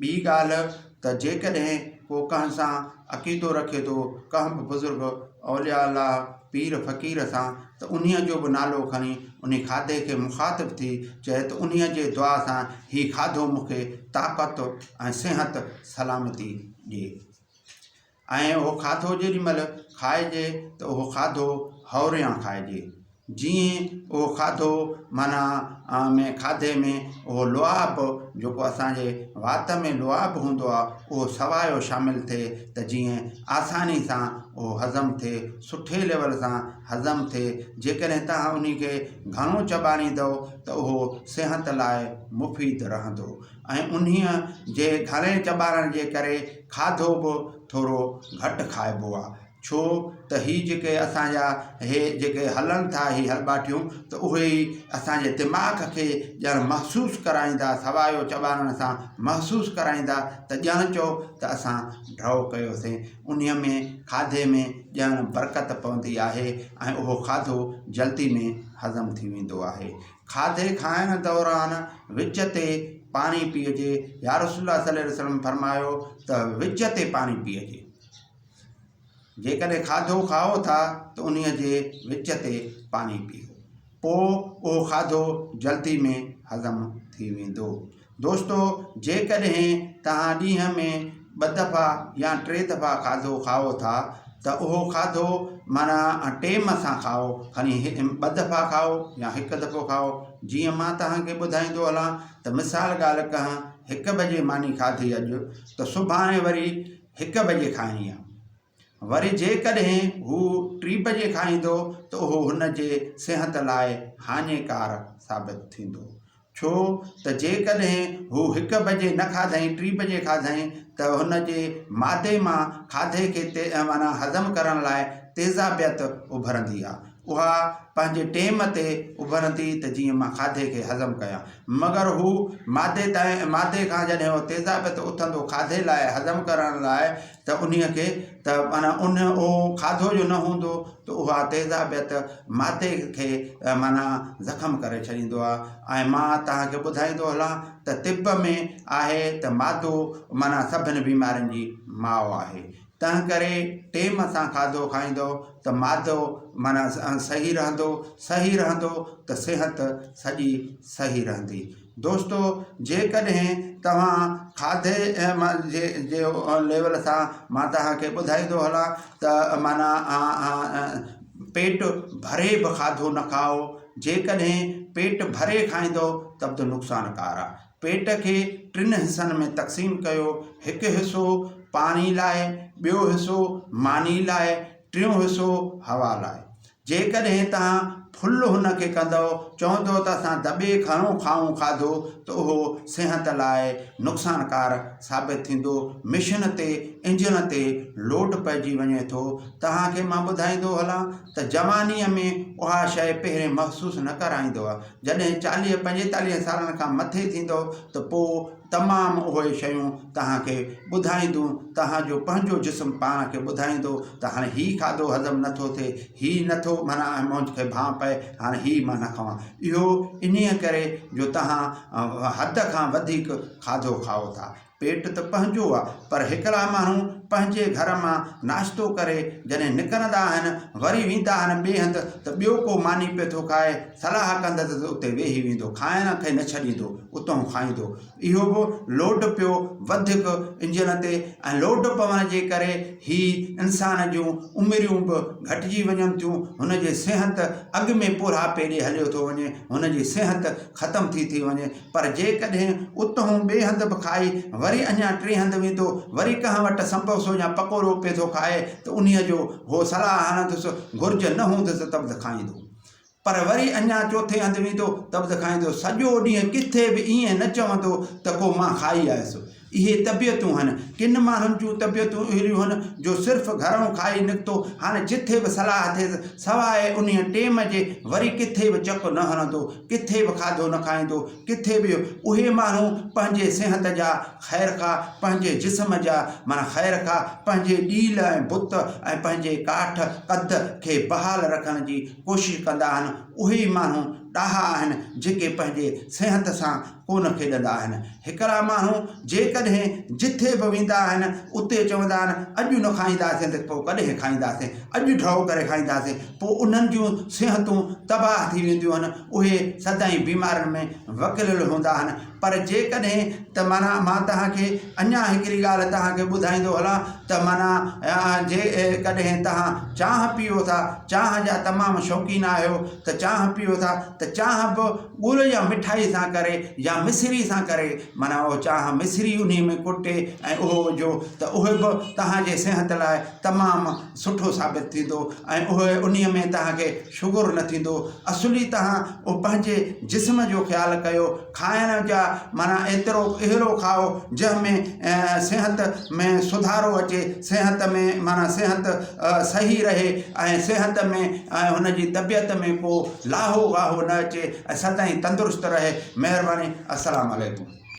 ٻي ڳالهه ته جيڪڏهن ڪو ڪنهن سان عقيدو رکي ٿو، ڪنهن به بزرگ، اولياء الله، پير فقير سان ته انهيء جو به نالو کڻي انهي کاڌي کي مخاطب ٿي چئي ته انهيء جي دعا سان هي کاڌو مون کي طاقت ۽ صحت سلامتي ڏي. ۽ اهو کاڌو جيڏي مهل کائجي ته اهو کاڌو هوريان کائجي جيئن اهو کاڌو معنيٰ ۾ کاڌي ۾ اهو لعاب جيڪو اسانجي وات ۾ لعاب هوندو آهي اهو سوايو شامل ٿئي ته جيئن آساني سان اهو هضم ٿئي سٺي ليول سان هضم ٿئي جيڪڏهن توهان انهي کي گهڻو چٻاڙيندؤ ته اهو صحت لاء مفيد رهندو ۽ انهيء جي گهڻي چٻاڙڻ جي ڪري کاڌو به ٿورو گهٽ کائبو آ ڇو ته هي جيڪي اسان جا هي جيڪي هلن ٿا هي هلٻاٽيون ته اهي ئي اسان جي دماغ کي ڄڻ محسوس ڪرائيندا سوايو چٻاڙڻ سان محسوس ڪرائيندا ته ڄڻ چئو ته اسان ڍؤ ڪيوسين انهي ۾ کاڌي ۾ ڄڻ برڪت پوندي آهي ۽ اهو کاڌو جلدي ۾ هضم ٿي ويندو آهي کاڌي کائڻ دوران وچ تي پاڻي پيئجي، يارسول الله صلي الله وسلم فرمايو ته وچ تي پاڻي پيئجي، جيڪڏهن کاڌو کائو ٿا ته انهي جي وچ تي پاڻي پيئو، پوء اهو کاڌو جلدي ۾ هضم ٿي ويندو. دوستو جيڪڏهن توهان ڏينهن ۾ ٻه دفعا يا ٽي دفعا کاڌو کائو ٿا ته اهو کاڌو معنيٰ ٽيم سان کائو کڻي ٻه دفعا کائو يا هڪ دفعو کائو جيئن مان توهان کي ٻڌائيندو هلان ته مثال ڳالهه ڪهان هڪ بجي ماني کاڌي اڄ ته سڀاڻي وري هڪ بجي کائڻي آهي وري جيڪڏهن هو ٽي بجي کائيندو ته اهو هن جي صحت لاء هاڃيڪار ثابت ٿيندو، ڇو ته جيڪڏهن هو هڪ بجي نه کاڌائين ٽي بجي کاڌائين ته هن جي معدي مان کاڌي کي معنيٰ هضم ڪرڻ لاء تيزابيت اڀرندي آ، اها پنهنجي ٽيم تي اڀرندي ته جيئن مان کاڌي کي هضم ڪيان، مگر هو معدي تائين معدي کان جڏهن اهو تيزابيت اٿندو کاڌي لاء هضم ڪرڻ لاء ته انهيء کي ته معنيٰ ان اهو کاڌو جو نه هوندو ته اها تيزابيت معدي کي معنيٰ زخم ڪري ڇڏيندو آهي ۽ مان توهان کي ٻڌائيندو هلان ته طب ۾ آهي ته معدو معنيٰ سڀني بيمارين جي ماء آهي تنهنڪري ٽيم سان کاڌو کائيندؤ ته معدو معنيٰ صحيح رهندو صحيح رهندو ته صحت سڄي صحيح رهندي دوستو جيڪڏهن توهان کاڌي جي ليول سان مان توهان کي ٻڌائيندو هلان ته معنيٰ پيٽ ڀري به کاڌو نه کائو جيڪڏهن پيٽ ڀري کائيندو ته به نقصان ڪار آهي پيٽ کي ٽن حصن ۾ تقسيم ڪيو هڪ حصو پاڻي لاء ٻيو حصو ماني لاء ٽيون حصو هوا لاء جيڪڏهن توهان ڦل هن کي ڪندؤ، چوندؤ ته اسان دٻي گهڻو کائون کاڌو ته اهو صحت لاء نقصانڪار ثابت ٿيندو. مشن تي انجڻ تي لوڊ پئجي وڃي ٿو. توهان کي مان ٻڌائيندو هلان ته جوانيء ۾ اها شيء پهرين محسوس نه ڪرائيندؤ. جڏهن چاليهه پنجيتاليهن سالن کان مٿي ٿيندؤ ته پوء تمام اهي شيون توهان کي ٻڌائيندون، توهان جو پنهنجو جسم پاڻ کي ٻڌائيندو ته هاڻي هي کاڌو هضم نه ٿو ٿئي، هي نه ٿو معنيٰ ۽ منهنج کي ڀانء پئي، هاڻي هي مان نه کئان. اهو انهيء ڪري جو توهان حد کان وڌيڪ کاڌو کائو ٿا. پيٽ ته پنهنجو آ، پر هڪڙا ماڻهو پنهنجي گهر مان ناشتو ڪري جڏهن نڪرندا آهن، وري ويندا آهن ٻئي هنڌ ته ٻيو ڪو ماني پيو ٿو کائي، صلاح ڪندس ته اتي ويهي ويندو، کائڻ کي نه ڇڏيندو، اتهون کائيندو. اهو به لوڊ پيو وڌيڪ انجڻ تي ۽ لوڊ پوڻ جي ڪري هي انسان جون عمريون به گهٽجي وڃن ٿيون، هن جي صحت اڳ ۾ پورهاپي ڏي هليو ٿو وڃي، هن جي صحت ختم ٿي ٿي وڃي. پر جيڪڏهن اتهون ٻئي هنڌ به کائي وري اڃا ٽئين هنڌ ويندو، وري ڪنهن وٽ سنبوسو يا پڪوڙو پئي ٿو کائي ته انهيء جو هو صلاح هڻندس، گهرج نه هوندس ته به کائيندو. پر وري اڃا چوٿين هنڌ ويندو ته به ته کائيندو. سڄو ڏينهن ڪٿي به ائين نه چوندو ته ڪو مان کائي آيس. اهي طبيعتون هن. ڪن ماڻهن جون طبيعتون اهڙيون هن جو صرف گهرئون کائي نڪتو هاڻي جٿي به صلاح ٿيس سواء انهيء ٽيم جي وري ڪٿي به چڪ نه هڻندو، ڪٿي به کاڌو نه کائيندو، ڪٿي به اهي ماڻهو پنهنجي صحت جا خير خواهه پنهنجي جسم جا معنيٰ خير خواهه پنهنجي ڏيل ۽ بت ۽ پنهنجي ڪاٺ، قد، کي بحال رکڻ جي ڪوشش ڪندا آهن، اهي ئي ماڻهو ڏاها آهن جيڪي پنهنجي صحت سان ڪو نه کيڏندا آهن. هڪڙا ماڻهو جيڪڏهن جٿي به ويندا آهن اتي چوندا آهن اڄ نه کائينداسين ته پوء ڪڏهن کائينداسين، اڄ ڍؤ ڪري کائينداسين، پوء انهن جون صحتون تباهه ٿي وينديون آهن، اهي سدائين بيمارين ۾ وڪليل هوندا آهن. پر جيڪڏهن ته معنيٰ مان توهان کي اڃا هڪڙي ڳالهه توهان کي ٻڌائيندو هلان ته معنيٰ جيڪڏهن توهان چانهه پيئو ٿا، چانهه جا تمام شوقين آهيو ته چانهه پيئو ٿا ته چانهه به ڳڙ يا مٺائي سان ڪري يا مصري سان ڪري معنيٰ اهو چانهه مصري انهي ۾ ڪٽي ۽ اهو وجهو ته اهي به توهان جي صحت لاء تمام سٺو ثابت ٿيندو ۽ اهو انهي ۾ توهان کي شگر نه ٿيندو اصلي توهان اهو پنهنجي جسم جو خيال ڪيو کائڻ جا معنيٰ ايترو اهڙو کائو جنهن ۾ صحت ۾ سڌارو اچي صحت ۾ معنيٰ صحت صحيح رهي ۽ صحت ۾ ۽ هن جي طبيعت ۾ ڪو لاهو واهو نه اچي ۽ سدائين تندرست رهي مهرباني السلام عليڪم